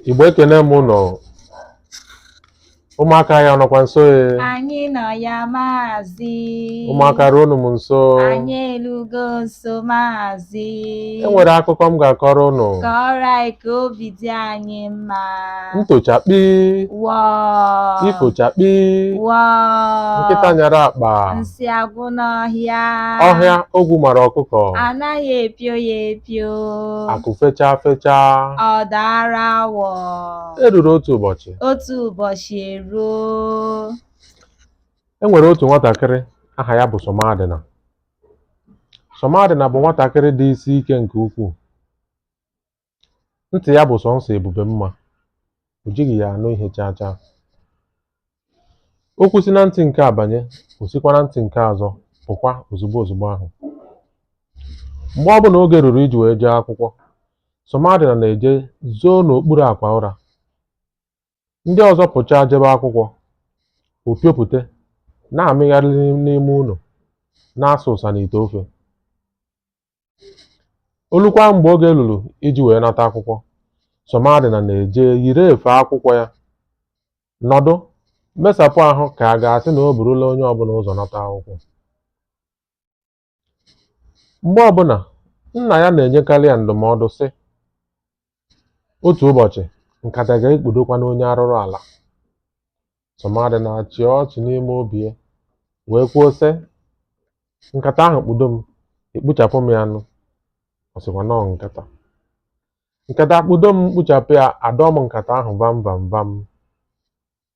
Igbo ekene m ụnụ ụmụaka ya nọkwa nso e anyị nọ ya maazị ụmụaka ruonụ m nso anyị elugo nso maazị e nwere akụkọ m ga-akọrọ ụnụ kọrọ anyị ka obi dị anyị mma ntochakpi wọọ ifochakpi wọọ nkịta nyara akpa nsị agwụ n'ọhịa ọhịa ogwu mara ọkụkọ a naghị epio ya epio pio. Akụ fechaa fechaa. Ọ daara awọ. E ruru otu ụbọchị. Otu ụbọchị eruo. E nwere otu nwatakịrị aha ya bụ Somadịna. Somadịna bụ nwatakịrị dị isi ike nke ukwuu. Ntị ya bụ sọnsọ ebube mma. O jighị ya anụ ihe chaa chaa. Okwu si na ntị nke a banye, o sikwa na ntị nke ọzọ pụkwa ozugbo ozugbo ahụ. Mgbe ọbụla oge ruru iji wee jee akwụkwọ, Somadina na-eje zoo n'okpuru akwa ụra. Ndị ọzọ pụchaa jebe akwụkwọ, o piopụte, na-amịgharị n'ime ụlọ, na-asa ụsa n'ite ofe. o lukwa mgbe oge lulu iji wee nata akwụkwọ Somadina na-eje yiri efe akwụkwọ ya nọdụ mesapụ ahụ ka a ga-asị na o burula onye ọbụla ụzọ nata akwụkwọ mgbe ọbụla nna ya na-enyekarị ya ndụmọdụ sị otu ụbọchị nkata ga-ekpudokwanụ onye arụrụ ala Somadina achịa ọchị n'ime obi ya wee kwuo sị nkata ahụ kpudo m ekpuchapụ m ya nụ ọ sịkwa nọọ nkata nkata kpudo m kpuchapụ ya adọọ m nkata ahụ vam vam vam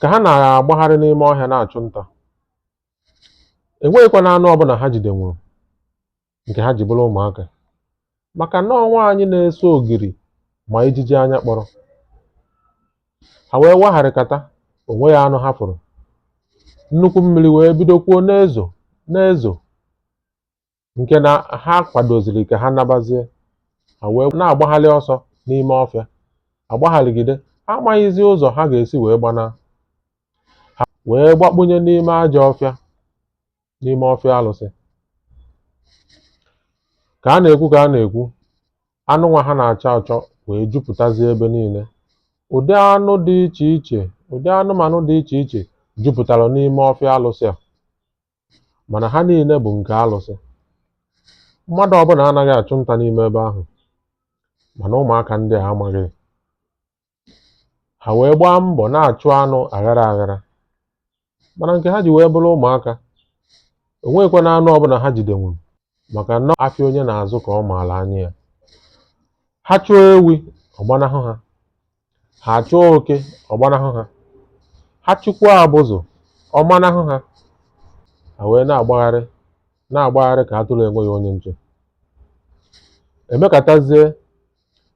ka ha na-agbagharị n'ime ọhịa na-achụ nta enweghịkwanụ anụ ọbụla ha jidenwuru nke ha ji bụrụ ụmụaka maka na ọ nwaanyị na-esu ogiri ma ijiji anya kpọrọ ha wee wagharịkata o nweghị anụ ha fụrụ nnukwu mmiri wee bidokwuo na-ezo na-ezo nke na ha kwadoziri ka ha nabazie ha wee na-agbagharị ọsọ n'ime ọfịa agbagharịgide ha amaghịzi ụzọ ha ga-esi wee gbanaa ha wee gbakpunye n'ime ajọ ọfịa n'ime ọfịa alụsị ka a na-ekwu ka a na-ekwu anụ nwa ha na-achọ achọ wee jupụtazie ebe niile ụdị anụ dị iche iche ụdị anụmanụ dị iche iche jupụtara n'ime ọfịa alụsị a mana ha niile bụ nke alụsị mmadụ ọbụla anaghị achụ nta n'ime ebe ahụ mana ụmụaka ndị a amaghị ha wee gbaa mbọ na-achụ anụ aghara aghara mana nke ha ji wee bụrụ ụmụaka enweghịkwa na anụ ọbụla ha jidenwuru maka na afịa onye na-azụ ka ọ maara anya ya ha chụọ ewi ọ gbanahụ ha ha chụọ oke ọ gbanahụ ha ha chụkwuo abụzụ ọ manahụ ha ha wee na-agbagharị na-agbagharị ka atụrụ enweghị onye nche emekatazie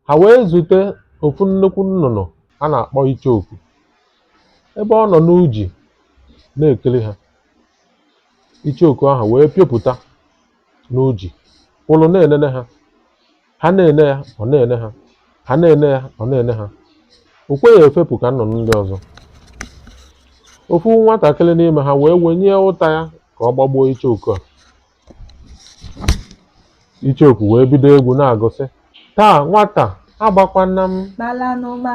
ha wee zute ofu nnukwu nnụnụ a na-akpọ icheoku ebe ọ nọ n'uji na-ekiri ha icheoku ahụ wee pịopụta n'uji kwụrụ na-enene ha ha na-ene ya ọ na-ene ha ha na-ene ya ọ na-ene ha o kweghị efepụ ka nnụnụ ndị ọzọ ofu nwatakịrị n'ime ha wee wenie ụta ya ka ọ gbagbuo icheoku a icheoku wee bido egwu na-agụ sị taa nwata agbakwana m kpalanụma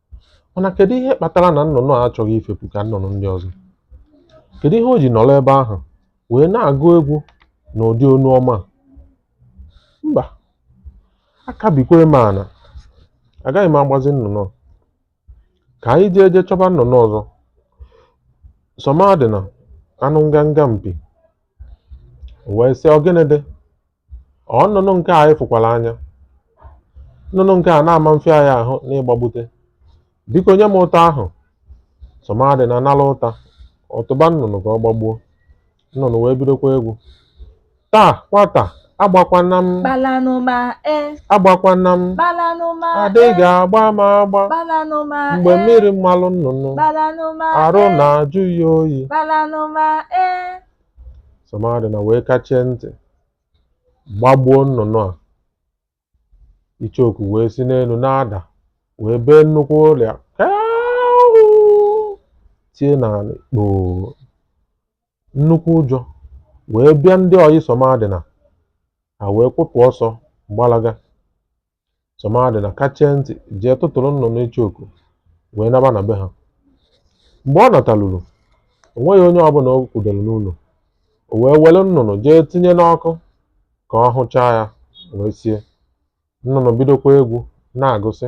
Mana kedu ihe kpatara na nnụnụ a achọghị ifepụ ka nnụnụ ndị ọzọ? Kedu ihe o ji nọrọ ebe ahụ wee na-agụ egwu na ụdị onu ọma a? Mba, aka bikwaa m ana. Agaghị m agbazi nnụnụ a. Ka anyị jee jee chọba nnụnụ ọzọ. Sọmadịna anụ nganga mpi. O wee sị, "Ọ gịnị dị?" Ọ nnụnụ nke anyị fụkwara anya. Nnụnụ nke a na-ama afịa anyị ahụ n'ịgbagbute. Biko nye m ụta ahụ. Sọmadịna nara ụta. Ọ tụba nnụnụ ka ọ gbagbuo. Nnụnụ wee bidokwa egwu. Taa nwata agbakwana m. Kpalanụma e. Agbakwana m. Kpalanụma e. Adịghị agba m agba. Kpalanụma e. Mgbe mmiri malụ nnụnụ. Kpalanụma e. Arụ na-ajụ ya oyi. Kpalanụma e. Sọmadịna wee kachie ntị gbagbuo nnụnụ a icheoku wee si n'elu na-ada wee bee nnukwu ụlịa tie n'ala kpoo nnukwu ụjọ wee bịa ndị ọyị Sọmadịna ha wee kwụpụ ọsọ gbalaga Sọmadịna kachie ntị jee tụtụrụ nnụnụ icheoku wee naba na be ha mgbe ọ nataluru o nweghị onye ọbụla o kwudere n'ụlọ o wee were nnụnụ jee tinye n'ọkụ ka ọ hụchaa ya wee sie nnụnụ bidokwa egwu na-agụ sị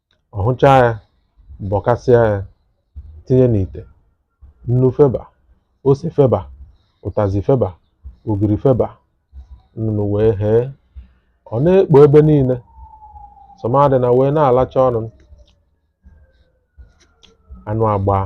ọ hụchaa ya bọkasịa ya tinye n'ite nnu feba ose feba ụtazị feba ogiri feba nnụnụ wee ghee ọ na-ekpo ebe niile sọmadịna wee na-alacha ọnụ anụ agbaa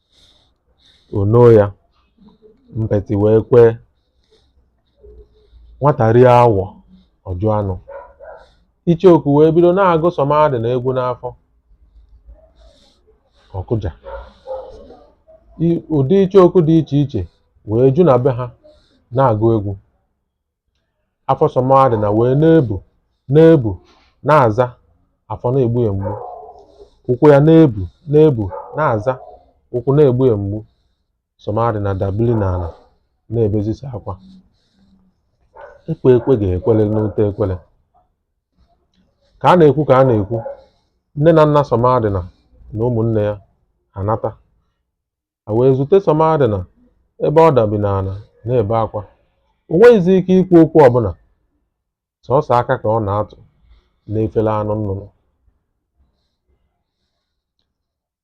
Ono ya, mpeti wee kwee. Nwata rie awọ, ọ jụ anụ. Icheoku wee bido na-agụ Sọmadịna egwu n'afọ. Ọ kụja. I- Ụdị icheoku dị iche iche wee ju na be ha na-agụ egwu. Afọ Sọmadịna wee na-ebu na-ebu na-aza afọ na-egbu ya mgbu. Ụkwụ ya na-ebu na-ebu na-aza ụkwụ na-egbu ya mgbu. Sọmadịna dabili n'ala na-ebezisi akwa. Ekwe ekwe ga-ekwele n'ute ekwele. Ka a na-ekwu ka a na-ekwu, nne na nna Sọmadịna na ụmụnne ya anata. ha wee zute Sọmadịna ebe ọ dabi n'ala na-ebe akwa. O nweghịzi ike ikwu okwu ọbụla, sọsọ aka ka ọ na-atụ n'efere anụ nnụnụ.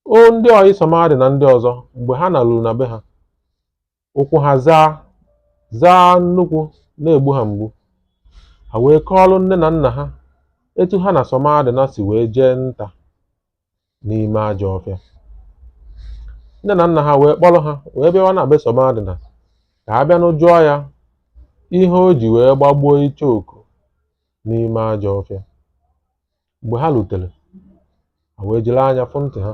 O ndị ọyị Sọmadịna ndị ọzọ mgbe ha naruru na be ha, ụkwụ ha zaa zaa nnukwu na-egbu ha mgbu. Ha wee kọọrọ nne na nna ha etu ha na Sọmadịna si wee jee nta. n'ime ajọ ọfịa nne na nna ha wee kpọrọ ha wee bịawa na be Sọmadịna ka ha bịanụ jụọ ya ihe o ji wee gbagbuo icheoku n'ime ajọ ọfịa mgbe ha lutere ha wee jiri anya fụ ntị ha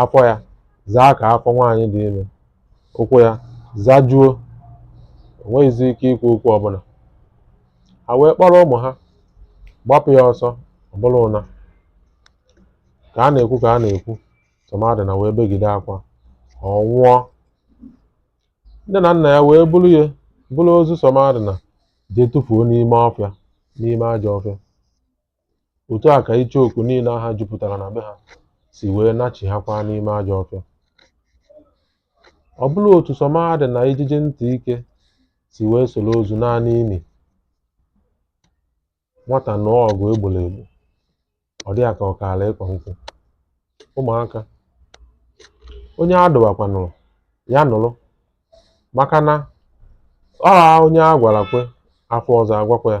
afọ ya zaa ka afọ nwaanyị dị ime ụkwụ ya zajuo o nweghịzi ike ikwu okwu ọbụla ha wee kpọrọ ụmụ ha gbapụ ya ọsọ ọ bụrụ ụna ka a na-ekwu ka a na-ekwu Sọmadịna wee begide akwa ọ nwụọ nne na nna ya wee buru ya buru ozu Sọmadịna jee tụfuo n'ime ọfịa n'ime ajọ ọfịa otu a ka icheoku niile aha jupụtara na be ha si wee nachighakwa n'ime ajọ ọfịa ọ bụrụ otu Sọmadịna ijiji ntị ike si wee soro ozu naa n'ini nwata nụọ ọgụ e gboro egbo ọ dị ya ka ọ kaala ịkwa nkwụ ụmụaka onye a dụwakwanụ ọdụ ya nụrụ maka na ọ onye a gwara kwe a fụ ọzọ a gwakwa ya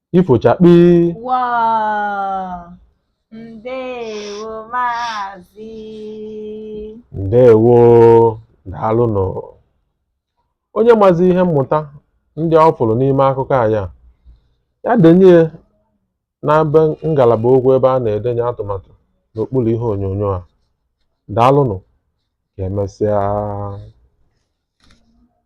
ifo chakpii ndewo maazị ndewo daalụnụ onye mazi ihe mmụta ndị ọ fụrụ n'ime akụkọ a ya ya denye na ngalaba okwu ebe a na-edenye atụmatụ n'okpuru ihe onyonyo a daalụnụ ka emesịa